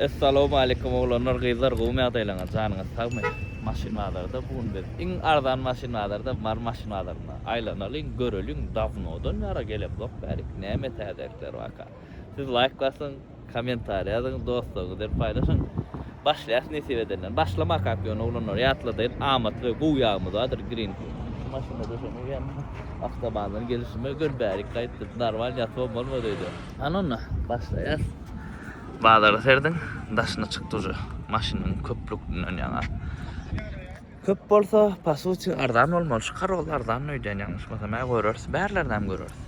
Essalowmalikim oglanlar gyzlar gowmy ýagdaýlaňyz janyňyz sagmy maşyn bazarda bu gün biz iň arzan maşyn bazarda mary maşyn bazarynda aýlanalyň göreliň dawnodan ýara gelemzok bärik näme täzelikler barka siz laýk basyň kommentariý ýazyň dostlaryňyz bilen paýlaşyň başlaýas nesip edenden başlamakak ýöne oglanlar ýatladaýyn amatly we gowy ýagymyz bardyr green ku şu maşynda döşemek ýaly awtobandan gelişime göni bärik gaýtdym narmal ýatybam bolmady öýde hany onda başlaýas. Bazara serdiň daşyna çyk duže maşynyň köplükdinden ýaňa köp bolsa pasuçi arzan bolmaly şu karol arzan öýdýän ýalňyşmasam hä göreris bärlerdem göreris.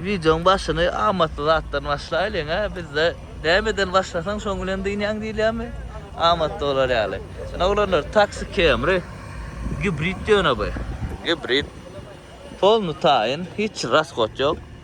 Wideoň başyny amatly zatdan başlaýlyň hä bizde nämeden başlasaň şoň bilen dynýaň diýilýärmi amatly bolar ýaly. Sen oglanlar taksi kemri gibrid ýöne bu. Gibrid polny taýyn hiç raskot ýok.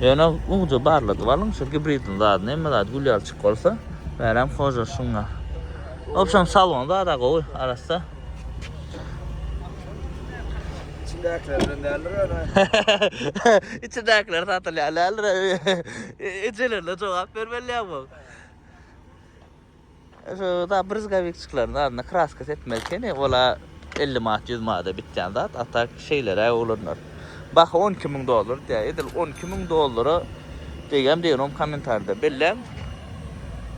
Ýöne uluja barladyp alyň, şol gibridiň zadyny, hemme zady gül ýaly çykyp bolsa, bärem hoja şuňa. Obşem salon zada gowy, arassa. İçindäkiler bilen däldir ýöne. İçindäkiler satylýar däldir. Ejelerine jogap bermeli ýa bu. Şu da brizgavikçikleriň zadyna kraska sepmeli ekeni. Ola 50 manat, 100 manada bitýän zat. A tak şeýleräk oglanlar. Baha 12 müň dollar diýýär. Edil 12 müň dollara degem degnom kommentarda belläň.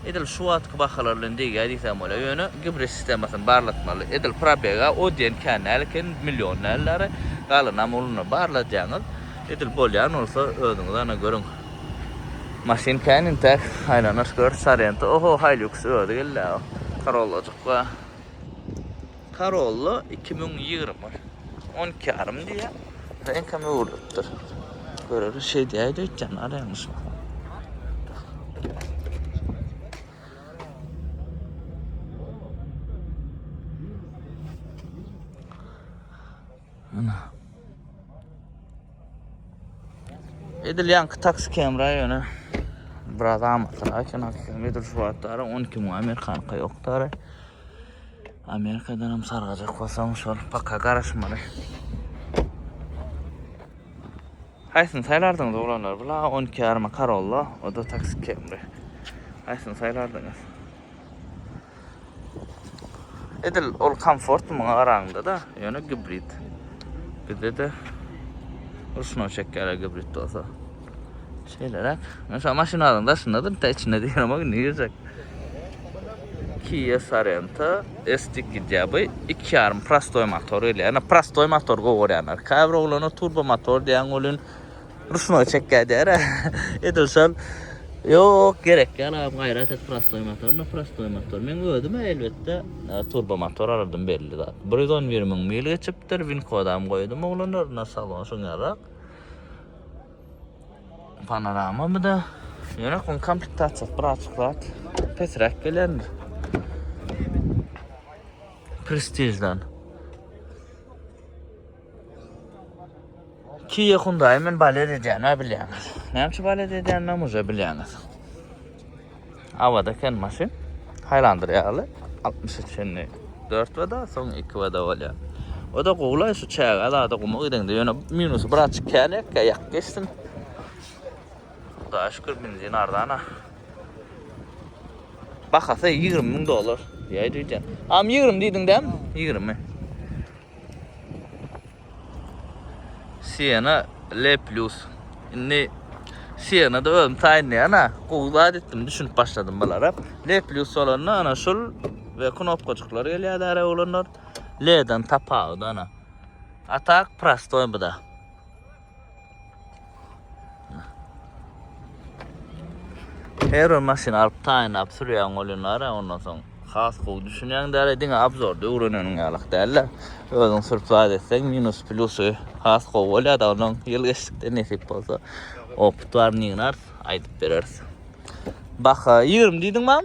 Edil şu wagtky bahalar bilen degýär diýsem bolar. Ýöne gibrid sistemasyny barlatmaly. Edil probega o diýen kän däl eken, million däl-dä. Galanam uluna barladýaňyz. Edil bolýan bolsa özüňiz ana görüň. Maşyn kän intäk aýlanaş gör Sorento oho Hilux özi geldi aw Corollajyk ba Corolla iki müň ýigrimi on iki ýarym diýýä reňkem öwrülipdir göreris şeýdýäýdi öýtýän bar ýalňyşma. Ana. Edil ýanky taksi kemra ýöne biraz amatlar aýtýan aslynda edil şu wagtlar 12 müň amerikanka ýokdary. Amerikadan hem sargajak bolsaň şol paka garaşmaly. Haýsyny saýlardyňyz oglanlar? Bula 12 ýaryma Corolla, o da taksi kemri. Haýsyny saýlardyňyz? Edil ol komfort muňa garaňda-da, ýöne gibrid. Bizde-de ruşnoý çekýärler gibrid bolsa. Şeýleräk. Men şu maşynalaryň daşynda-da nta içinde diýýärin, indi girjek. Kia Sorento STK diýýärbi, 2,5 prostoý motor gelýär. Ýöne prostoý motor gowy görýänler. Käbir oglanlar turbo motor diýýän welin Ruşnoý çekýär diýär. Edil şol. Ýok, gerek ýaly agam gaýrat et prostoý motor, no prostoý motor. Men özüm elbetde turbo motor alardym belli zat. 111 müň mil geçipdir, win kodam goýdum oglanlar, na salon şoň ýarak. Panorama mı da? Ýöne kon komplektasiýa birazçyk zat pesräk gelen. Prestijden. Kia Hyundai men balet edýän ha bilýäňiz. Näme üçin balet edýän men uje bilýäňiz. Awada eken maşyn. Highlander ýaly 63 indi 4 wada, soň 2 wada bolýar. O da gowlay şu çäge zada guma gideňde ýöne minusy bir açyk kälek ýak geçsin. Hudaýa şükür benzin arzana. Bahasy 20 ming dollar. Ýaý diýdim. Am 20 diýdiň däm? 20. Siena L plus. Indi Siena da özüm taýynlaýan ha. Gowy zat etdim, düşünip başladym bulara. L plus bolanda ana şul we knopkajyklar gelýär ara oglanlar. L-den tapawudy ana. Atak prostoý bu da. Her bir maşyn alyp taýynlap sürýän bolýanlar ondan soň has gowy düşünýän däl diňe abzorda öwreneniň ýalyk däl-de. Özüň sürüp zat etseň minus plusy has gowy bolýar da onuň ýyl geçdikde nesip bolsa opyt bar nignar aýdyp bereris. Baka 20 diýdiň mam?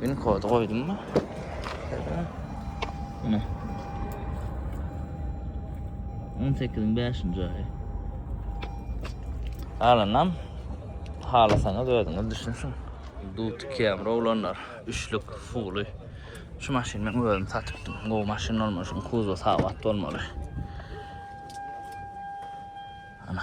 Pin kody goýdum mı? Mine. 18-iň 5-nji aýy. Alanam halasaňyz özüňiz düşünsün. Dut kem rowlanlar, üçlük fuly. Şu maşyny men özüm satypdym. Gowy maşyn bolmaly, şuň kuzow sagat bolmaly. Ana.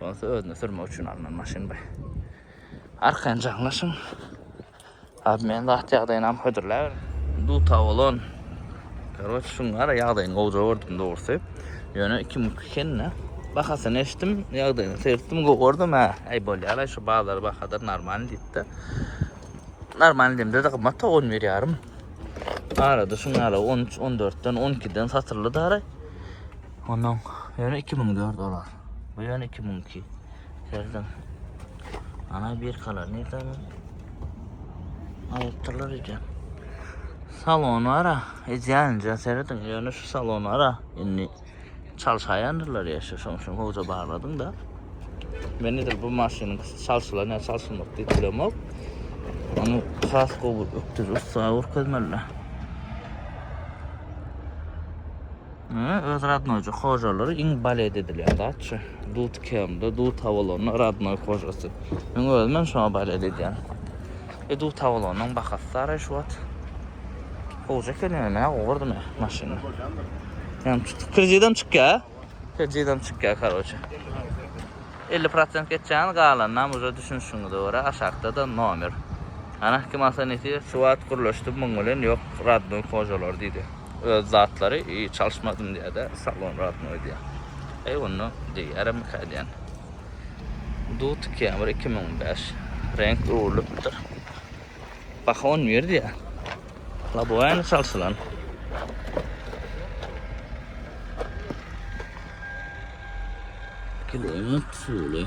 Bolsa özüne sürmek üçin alnan maşyn bu. Arkaýyn jaňlaşyň. Abi men zat ýagdaýyny am hödürläber. Duta bolan. Karoç şuň gara ýagdaýyny gowja gördüm dogrusy. Ýöne 2002 kenine bahasyny eşdim, ýagdaýyny seretdim, gowy gördüm ha. Aý bolýar aý şu bazar bahadyr normal diýipdi. Normal demde de gymmat 11 ýarym. Arada şuň gara 13, 14 den 12 den satyldy dara. Ondan ýöne 2004 olar. Bu ýöne 2002. Serden. Ana bir kalar ne tam. Aýtdylar ýa. Salon var ha. Edýänçe serden ýöne şu salon var ha. Indi çalşaýandyrlar ýa şu şoň şoň hoza bagladyň da. Men nedir bu maşynyň çalşylan ýa çalşylmak diýip bilemok. Onu has gowy ökdürip sawur közmeliler. Öz radnoýjy hojalary iň balet edilýän zatçy. Dut kemde, dut awalanda radnoý hojasy. Men özümem şoňa balet edýän. E dut awalanyň bahasy saray şu wagt. Hoja kelene ne gordy me maşyny. Hem kredidem çykýar. Kredidem çykýar karoçe. 50% geçýän galandan uza düşünişiňize görä aşakda da nomer. Ana kim alsa nesi şu wagt gürleşdi muň bilen ýok radnoý hojalar diýdi. öz zatlary çalyşmadym diýýärde salon radnoý diýýär. Eý onda diýýäremika diýýän. Dut Camry 2005 reňk öwrülipdir. Baha 11 diýýär. Laboýany çalşylan. Kiloýan suwly.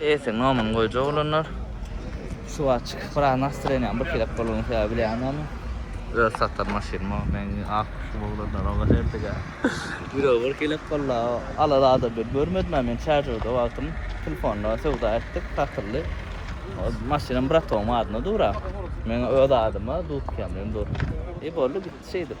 Ese nomyny goýjak olanlar şu wagt çykyp biraz nastroýeniýam bir kelek bolany sebäbi bilýän ony. Öz satan maşynym o. Men ak kuşum oglanlar oňa herdige. Ýüregi bir kelek boldy. Ala zada bir görmedim ha men çaržerde wagtym telefonda söwda etdik satyldy. Maşynam bratowymyň adyna dur ha. Meň öz adyma dudkam bilen dur. E boldy gitdi şeýdip.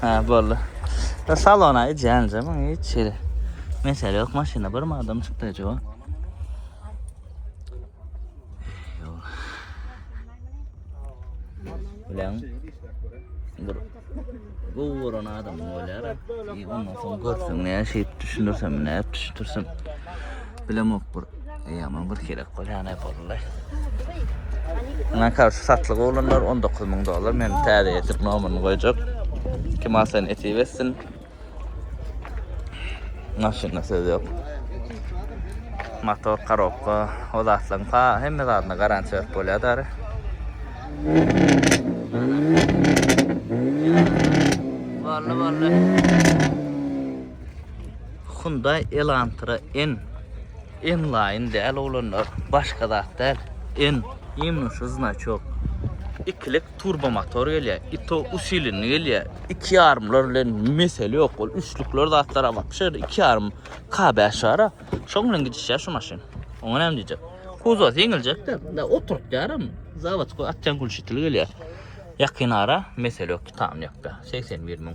Ha boldy. Da salona ijänje muň hiç ýeri. Mesele ýok maşyna bir adam çykdy ejaba. Bilen bir bu vuran adam bolýar. Ondan soň görseň näşe düşündirsem, näp düşündirsem. Bilemok bir Ýaman bir gerek bolýan äp boldy. Muňa karşı satlyk olanlar 19 ming dollar. Men täze etip nomerini goýjak. Kim alsan etip etsin. Maşyna söz ýok. Motor, korobka, o zatlaryň pa hemme zadyna garantiýa berip bolýar dary. Bolly bolly. Hyundai Elantra N N-line däl oglanlar başga zat däl N. Ýeňňişi znaçok. Ikilik turbo motor gelýär. I to usilenli gelýär. Iki ýarymlar bilen mesele ýok. Ol üçlükler zatlara wapşe iki ýarym K bäş bara. Şoň bilen gidişýär şu maşyn. Oňa näme diýjek. Kuzowasy ýeňiljekde. Mundan oturtýaram. Zawodkoý atýan gülşitli gelýär. Ýakyn ara mesele ýok. Tamam ýapýar. Segsen bir müň.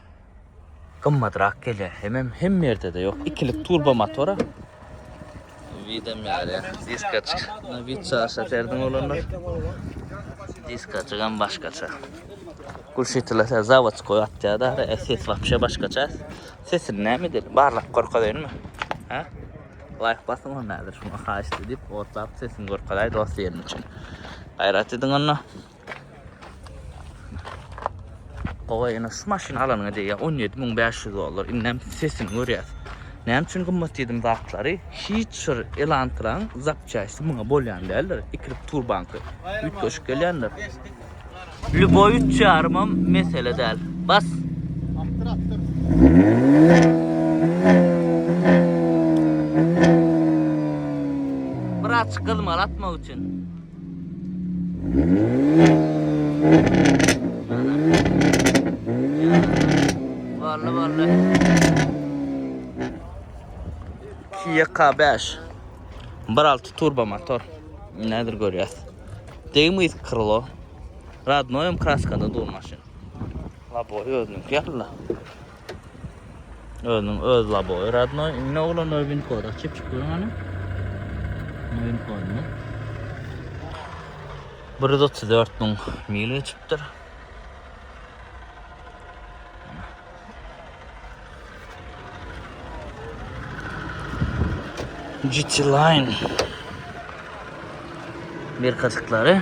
Gymmadrak gelýär. Hemem hemme ýerde-de ýok. Ikilik turbo motora. Widem ýaly. Diskaçyk. Buna wid çaşa serdiň oglanlar. Diskaçygam başgaça. Gulşitila sen zawodskoý atýar da, ses wapşe başgaça. Sesini näme edeli? Barlap görkezeýinmi? Hä? Laýk basyň onda häzir şuňa haýyşt edip, otlap sesini görkezeý dost ýeriniň üçin. Gaýrat ediň onda. Gowa ene şu maşyny alanyňa diýýä 17500 dollar. Indem sesini görýäs. Näme üçin gymmat diýdim zatlary? Hiç bir elantraň zapçaşy muňa bolýan däldir. Ikirip turbanky. Üýtgeşik gelýändir. Lüboý 3,5 hem mesele däl. Bas. Atdyr atdyr. Biraz çykylmaly atmak üçin. Bolly bolly. Kia K5. 1.6 turbo motor. Nedir görýäs. Degim iz krilo. Radnoýum kraskada dur maşyn. La boý özüniň ýaly. Özüniň öz labowy radnoý. Indi oglan öý win koda çyp çyp görüň hany. Win kodunu. 134 müň mil geçipdir. GT Line bir katıkları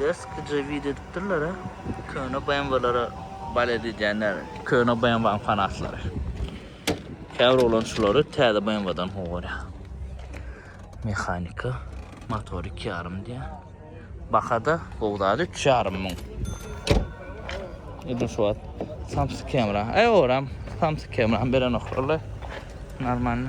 Deskyja video edipdirler a. Köne BMW-lere balet edýänler. Köne BMW-nyň fanatlary. Käbir oglan şulary täze BMW-dan gowy görýär. Mehanika, motor iki ýarym diýýär. Bahada gowy zat üç ýarym müň. Edil şu wagt Samsung Camera. Aý oram Samsung Camera berenoklar la. Normalny.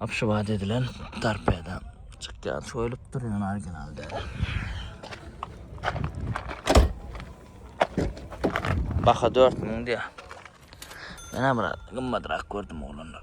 Abşewat edilen torpeda çykýar. Şöylüp dur ýöne original däl. Baha 4000 diýär. Men hem biraz gymmadrak gördüm oglanlar.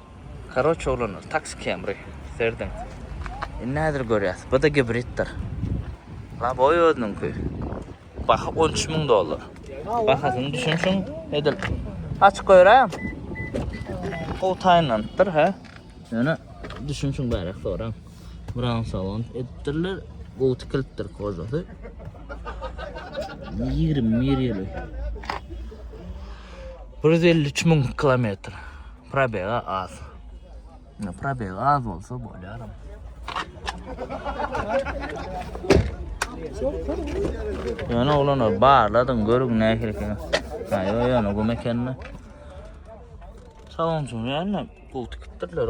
Karoç oglanlar taksi kemri serdiň. Indi häzir görýäs. Bda gibriddir. Laboy özüniňki. Baha 13 müň dollar. Bahasyny düşünşiň edil. Açyk göräýem. Gowy taýynlanypdyr hä. Ýöne düşünşiň bärak soraň. Brown salon edipdirler. Gowy tikilipdir kožasy. 21 ýyly. 153 müň kilometr. Probega az. Ne probega az bolsa bolýar. Ýöne oglana barladyň görüň nähili eken. Ha ýöne ýöne gum ekenini. Sawunçyň ýanyna gul tikipdirler.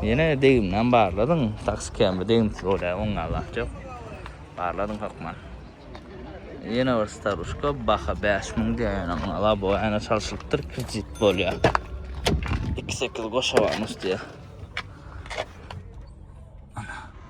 Ýene degimden barladyň, taksi kämir degimsiz bolýar, oňa zat ýok. Barladyň hökman. Ýene bir staruşka, baha 5000 diýýän, oňa labo ýene çalşylypdyr, kredit bolýar. 2-8 goşa barmyş diýýär.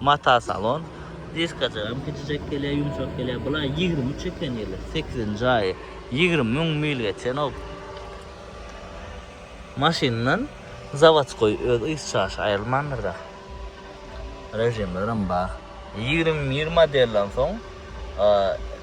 Mata salon. Diskajagam kiçijek gelýär, ýumşak gelýär. Bulaý ýigrimi üç eken ýyly, sekizinji aýy. Ýigrimi müň mil geçenok. Maşyndan zawodskoý öz yz çaşy aýrylmandyr da. Režimlerem bar. Ýigrimi bir modelden soň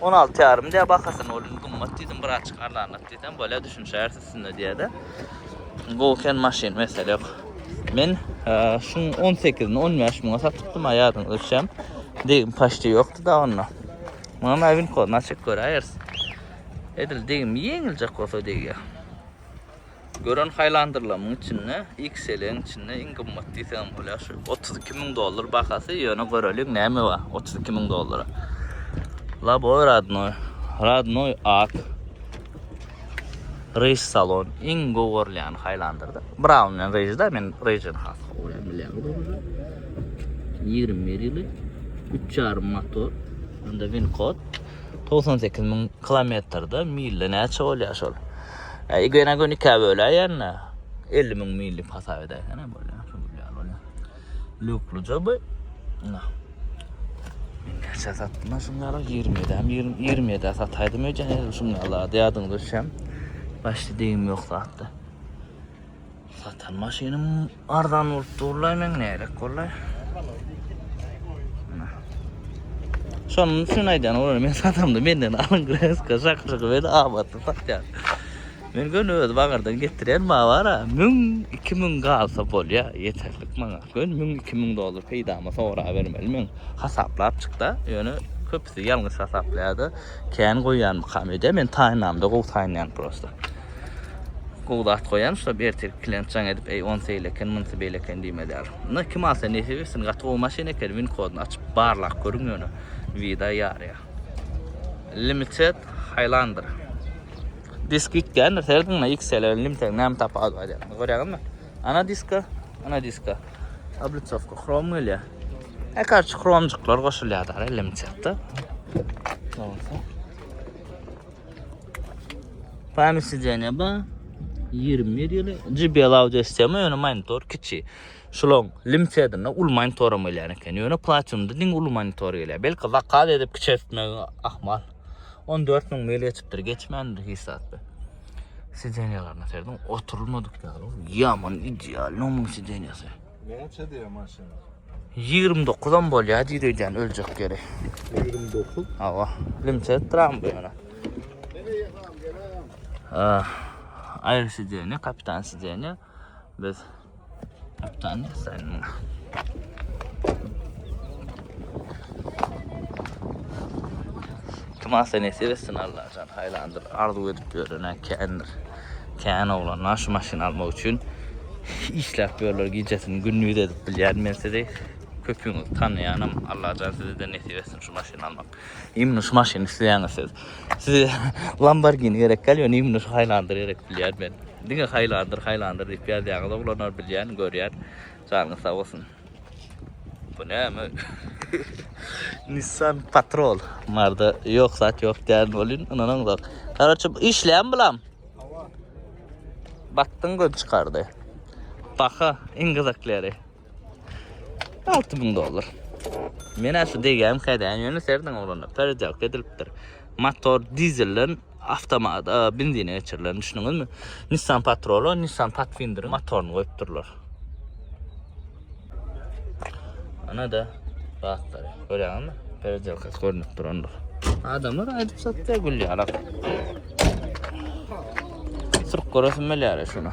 On alty ýarym diýýär bahasyny, ol indi gymmat diýdim, birazçyk arzanlat diýsem, bolýar, düşünişýäris üstünde diýýär-de. Gowy eken maşyn, mesele ýok. Men şuň on sekizini on bäş müňe satypdym-a, ýadyňyzda düşýäm. Degim paçti ýokdy-da onda. Muňa nawinkodyny açyp göräýeris. Edil degim ýeňiljek bolsa degýär. Gören haýlandyrlamyň içinde XL-iň içinde iň gymmat diýseňem bolýar şu. 32 müň dollar bahasy, ýöne göreliň näme bar 32 müň dollara. Laboy radnoy, radnoy ak. Rejs salon iň gowy görülýän haýlandyrda. Braun bilen rejda men rejini has gowy bilýän. 21 ýyly 3,5 motor. Onda win kod 98 müň kilometrde milde näçe bolýar şol? Eý göne göni ikä böläýende 50 müň mil dip hasap edäýsen hem bolýar. Şu gülýär bolýar. Lukluja bu. Nah. Kaça satdym şunlara 27 hem 27 sataýdym öýden şunlara diýýärdim düşem. Başda degim ýok zatda. Satan maşynym arzan bolup durlaý men nädek bollaý. Şonuň üçin aýdan olar men satamda menden alyň kreska şakşygy beni abatda satýar. Men gön öz bagardan getirýän mawara 1000-2000 galsa bolýa ýeterlik maňa. Gön 1000-2000 dollar peýdama sora bermeli men. Hasaplap çykda, ýöne köpüsi ýalňyş hasaplaýarda, kän goýýanmykam ede men taýynamda gowy taýynýan prosta. Gowy zat goýan şular ertirki klient jaň edip eý onsy eýle eken munsy beýle eken diýmez ýaly. Muny kim alsa nesip etsin gaty gowy maşyn eken win kodyny açyp barlap görüň ýöne wida ýarýa. Limited Highlander. Disk gitgändir serediň na XL Limited näme tapawudy bar ýa. Görýäňizmi? Ana diska, ana diska. Obliçowka krom gelýä. E karçy kromjyklar goşulýar da Limitedde. Onsa. Pami sidzeniýe ba 21 ýyly. JBL audio sistema ýöne monitor kiçi. Şulan limsedinde ul monitor hem gelýän eken. Ýöne platinumda diň ul monitor gelýär. Belki zakaz edip kiçeltmek ahmal. 14 müň mil geçipdir, geçmändir hiç zatda. Sidzeniýalaryna serdim, oturulmadyk ýaly. Ýaman ideal, nomun sidzeniýasy. Näçe diýýär maşyn? 29 am bolýar diýdi öýdýän öljek ýeri. 29. Hawa. Limçe etdiram bu ýere. Ah, aýr sidenýe, kapitan sidenýe. Biz kapitan sen. Tuma sen esir etsin Allah can. Haylandır arzu edip yörüne kendir. Kän oglanlar şu maşyny almak üçin işläp ýörler gijesini gündiz edip bilýän men sizi köpüňizi tanaýanam Allajan sizede nesip etsin şu maşyny almak imni şu maşyny isleýäňiz siz size Lamborghini gerek däl ýöne imni şu Highlander gerek bilýän men diňe Highlander Highlander diýip ýazýaňyz oglanlar bilýän görýän janyňyz sag bolsun. Bu näme? Nissan Patrol. Marda yok zat yok diýen bolýan, ynanaňzok. Garaçy işleýän bulam. Batdyň göz çykardy. Baha iň gyzyklyry. 6000 dollar. Men şu degýän kädäň ýöne serden oglanda perjak edilipdir. Motor dizelden awtomat, e, benzine geçirilen, düşündiňizmi? Nissan Patrol-a, Nissan Pathfinder motoryny goýup durlar. Ana-da, rahatlar. Görýäňizmi? Peredelkasy görünip durandyr. Adamlar aýdyp satýar gülli alak. Sırk görürsün meläre şuna.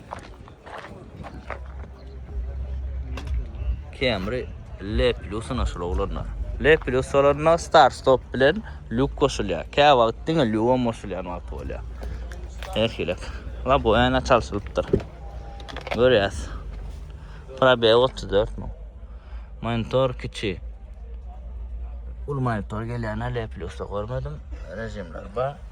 Camry L plus naşylolarna. L plus olarna start stop bilen lük koşulýar. Kä wagt diňe lüwa moşulýan wagt bolýar. Her şeýle. La bu ene çalşylypdyr. Görýäs. Probe 34 mu? Monitor kiçi. Ul monitor gelýän L plus görmedim. Rejimler bar.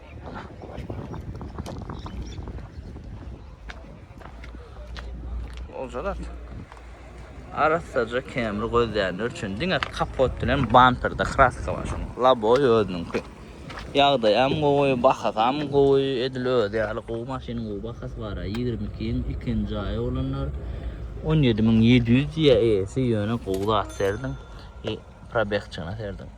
Oljalar. Arassaca kemri gözleýänler üçin diňe kapot bilen bamperda kraska bar şoň. Laboy özüniňki. Ýagdaý hem gowy, bahasy hem gowy, edil özi ýaly gowy maşynyň gowy bahasy bar. 22 ýyň ikinji aýy olanlar 17700 diýýär eýesi ýöne gowy zat serdiň. E, probegçygyna serdiň.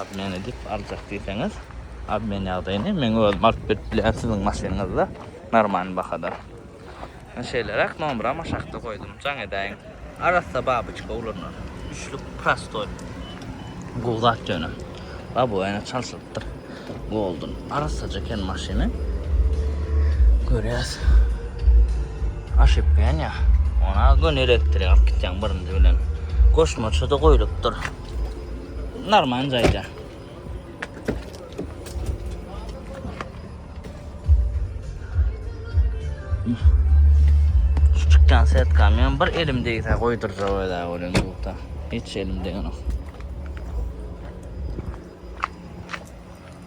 Obmen edip aljak diýseňiz obmen ýagdaýyny meň özüm alyp berip bilýän siziň maşynyňyzda normalny bahada. Men şeýleräk nomera maşakda goýdum jaň edäýiň. Arassa babyçka ulanar. Üçlük prostoý. Gowy zat ýöne. Labowyna çalşylypdyr. Golden. Arassaja eken maşyny. Görýäs. Aşypka ýanýar. Ona göni elektrik alyp gitýäň birinji bilen. Goşmaça-da goýlupdyr. Normal jaýda. Şu çykýan setkam ýa bir elim degse goýdurja wada bolan bukda. Hiç elim degno.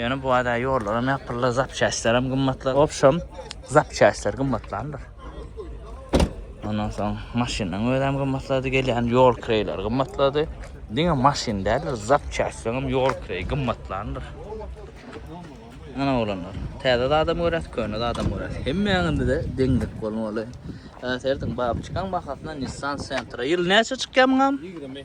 Ýöne bu ada ýollaram ýapyldy, zapçastlaram gymmatlar. Wobşem, zapçastlar gymmatlandyr. Ondan soň maşynyň özem gymmatlady, gelýän ýol kireýleri gymmatlady. Diňe maşyn däldir, zapçastlaram ýol kireýi gymmatlandyr. Ana oglanlar, täze zadam göräs, köne zadam göräs. Hemmäňizde deňlik bolmaly. Äserdiň babçykaň bahasyndan Nissan Sentra. Ýyl näçe çykýar muňam? 20.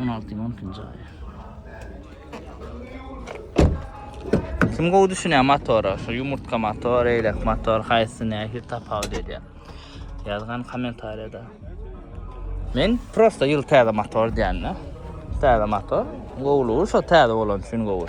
On altı on ikinci ay. Kim gowy düşünýär motora? Şu yumurtka motor, eýlek motor, haýsy nähir tapawut edýär? Ýazgan kommentariýada. Men prosta ýyl täze motor diýende. Täze motor. Gowlugy şo täze bolan üçin gowy.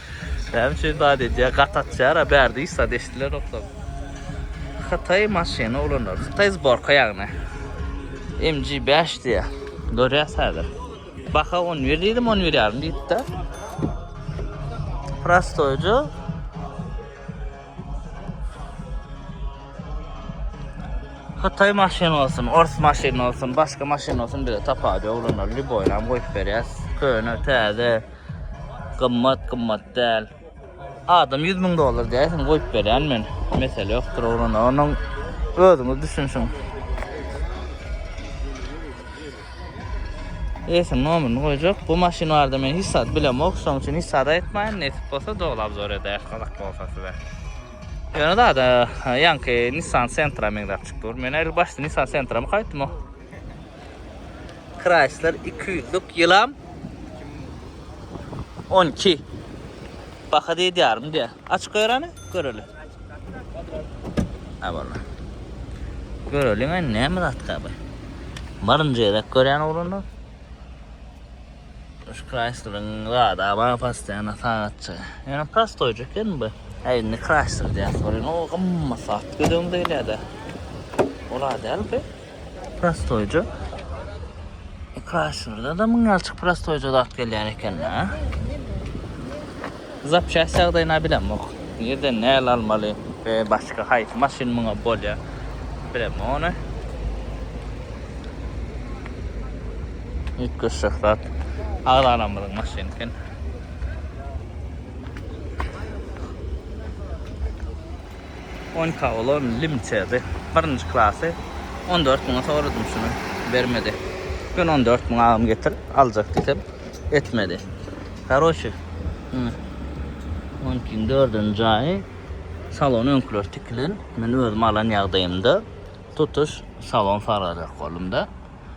Näme üçin zat edýär? Gat atýar-a, bärde hiç zat eşidilenokda. Hytaý maşyny ulanar. Hytaý zborka ýagny. MG5 diýýär. Görýäs häzir. Baha 11 diýdim, 11 ýarym diýipdi. Prostoýja. Hytaý maşyny olsun, ors maşyny olsun, başga maşyny olsun bize tapady ýok ulanlar. Lýuboýnam goýup berýäs. Köne, täze. Gymmat gymmat däl. Adam ýüz müň dollar däýsin goýup berýän men. Mesele ýokdur oglan onuň özüňiz düşünşiň. Eýesiniň nomerini goýjak. Bu maşyn barada men hiç zat bilemok. Şoň üçin hiç zat aýtmaýyn. Nesip bolsa doly obzor ederis gyzak bolsa size. Ýöne zada ýaňky Nissan Sentra meňzäp çykdyr. Men el başda Nissan Sentra-my gaýtdym o. Chrysler 200'lük ýylam 12. Baka diýdi ýarym diýä. Aç göreni göreli. Ha bala. Göreli men näme zat gaby. Barynca ýerek görýän ugrunda. Şu Chrysler'ın zada bana pastyana sagatça. Yani pastoyca ken bu. Ayni Chrysler diýär. Sorun o gymmat saat gödüň diýilýär-de. Ola däl bu. Prostoýja. Kraşnurda da müň ýalçyk prostoýja zat gelýän ekende. Zapçast ýagdaýyna bilemok. Nirden näle almaly we başga haýsy maşyn muňa bolýar. Bilemok ony. Ýetgeşjek zat. Agzalamyzyň maşyny eken. Onka olar lim çezi birinji klasy on dört müňe soradym şuny bermedi ýöne on dört müň agam getir aljak diýsem etmedi karoçi muny onkiň dördünji jaýy salon öňküler tikilen men özüm alan ýagdaýymda tutuş salon salajak boldumda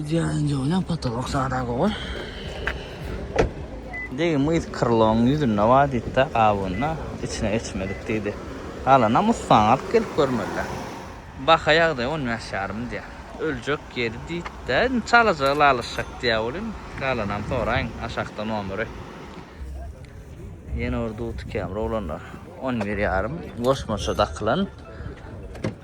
Idealny joýlan potolok sada gowy. Degi myz krylonyň ýüzünde bar diýdi-de, gabygynda içine geçmedik diýdi. Galanam ussaňa alyp gelip görmeliler. Baha ýagdaýy on bäş ýarym diýýär. Öljek ýeri diýdi-de, indi çalaja ylalaşjak diýýär welin, galanam soraýyň, aşakda nomeri. Ýene bir dutikämir oglanlar. On bir ýarym goşmaça dakylan.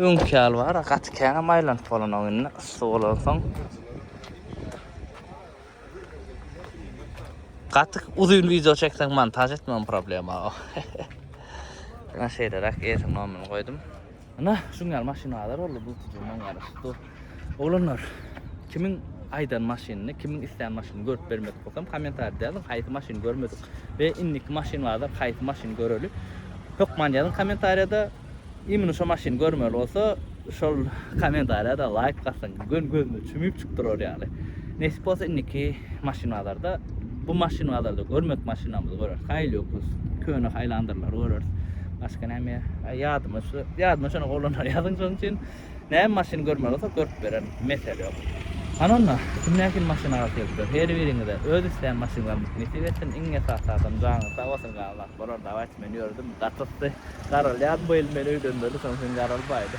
Öňki ýaly bar, gaty käňem aýlanyp bolanok indi, yssy bolansoň. Gaty uzyn wideo çekseň montaž etmem problema. Ýa şeýleräk erkin nomyny goýdum. Ana, şuň ýaly maşyn bazar boldy, bu tujumdan garaşypdy. Oglanlar, kimiň aýdan maşynyny, kimiň islän maşynyny görüp bermedik bolsam, kommentariýada ýazyň, haýsy maşyny görmedik we indiki maşyn bazar haýsy maşyny göreli. Hökman ýazyň kommentariýada. Imini şo maşyny görmeli bolsa şol komentariýada laýk bassyn göni gözüne çümüp çykyp durar ýaly. Nesip bolsa indiki maşyn bazarda bu maşyn bazarda görmek maşynamyzy göreris. Haýyl ýokuz köne haýlandyrlar göreris. Başga näme ýadyma şu ýadyma şony oglanlar ýazyň şonuň üçin. Näme maşyn görmeli bolsa görüp bererin, mesele ýok. Hany onda, kim nähili maşyn arasy gelipdir, her biriňize öz islän maşynlaryňyzy nesip etsin, iň esasy adam janyňyz sag bolsun galan zat bolar, dawayt men ýördüm, gatysdy, garalýan bu il meni öýlendirdi soň sen garalbaýda.